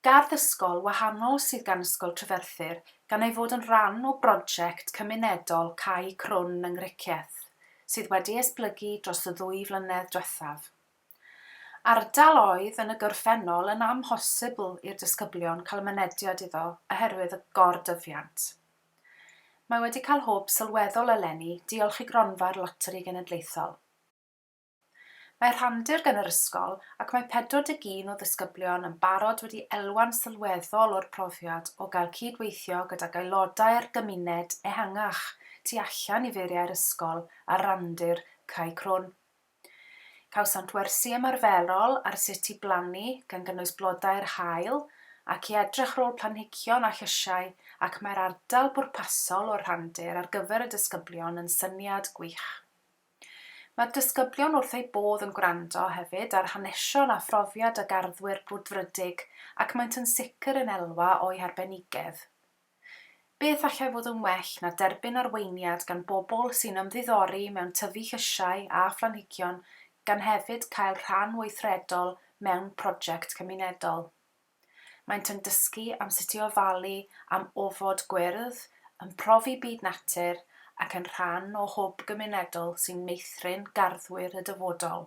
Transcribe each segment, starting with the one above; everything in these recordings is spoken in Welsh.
Gardd ysgol wahanol sydd gan Ysgol Treferthyr gan ei fod yn rhan o broject cymunedol Cae Crwn yng Nghricieth sydd wedi esblygu dros y ddwy flynedd diwethaf. Ardal oedd yn y gorffennol yn amhosibl i'r disgyblion cael mynediad iddo oherwydd y gor-dyfiant. Mae wedi cael hwb sylweddol eleni diolch i Gronfa'r Loteri Genedlaethol. Mae rhandir gan yr ysgol ac mae 41 o ddisgyblion yn barod wedi elwa'n sylweddol o'r profiad o gael cyd-weithio gydag aelodau'r gymuned ehangach tu allan i feiriau'r ysgol ar randir Cae Crwn. Cawsant wersi ymarferol ar sut i blannu, gan gynnwys blodau'r haul, ac i edrych ar ôl planhigion a llysiau ac mae'r ardal bwrpasol o'r rhandir ar gyfer y disgyblion yn syniad gwych. Mae'r disgyblion wrth eu bodd yn gwrando hefyd ar hanesion a phrofiad y garddwyr brwdfrydig ac maent yn sicr yn elwa o'u harbenigedd. Beth allai fod yn well na derbyn arweiniad gan bobl sy'n ymddiddori mewn tyfu llysiau a phlanhigion gan hefyd cael rhan weithredol mewn prosiect cymunedol. Maent yn dysgu am sut i ofalu am ofod gwyrdd, yn profi byd natur ac yn rhan o hwb gymunedol sy'n meithrin garddwyr y dyfodol.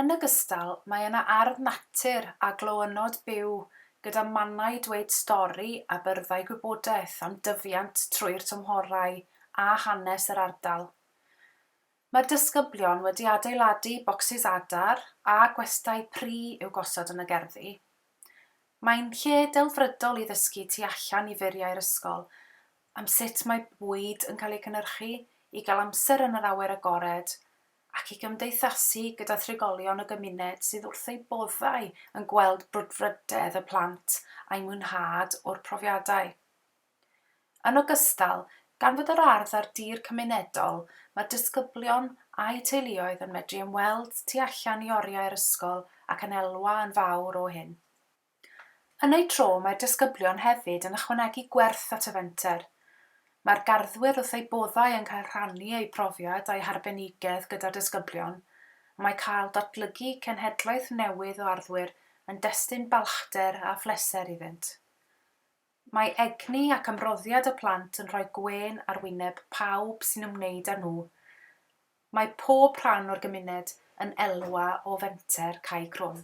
Yn ogystal, mae yna ardd natur a glowynnod byw gyda mannau dweud stori a byrddau gwybodaeth am dyfiant trwy'r tymhorau a hanes yr ardal. Mae'r disgyblion wedi adeiladu bocsys adar a gwestai pry i'w gosod yn y gerddi. Mae'n lle delfrydol i ddysgu tu allan i furiau'r ysgol am sut mae bwyd yn cael ei gynhyrchu, i gael amser yn yr awyr agored ac i gymdeithasu gyda thrigolion y gymuned sydd wrth eu boddau yn gweld brwdfrydedd y plant a'u mwynhad o'r profiadau. Yn ogystal, gan fod yr ardd ar dir cymunedol, mae disgyblion a'u teuluoedd yn medru ymweld tu allan i oriau'r ysgol ac yn elwa yn fawr o hyn. Yn eu tro, mae'r disgyblion hefyd yn ychwanegu gwerth at y fenter. Mae'r garddwyr wrth eu boddau yn cael rhannu eu profiad a'u harbenigedd gyda'r disgyblion, a mae cael datblygu cenhedloedd newydd o arddwyr yn destun balchder a phleser iddynt. Mae egni ac ymroddiad y plant yn rhoi gwên ar wyneb pawb sy'n ymwneud â nhw. Mae pob rhan o'r gymuned yn elwa o fenter Cae Crwn.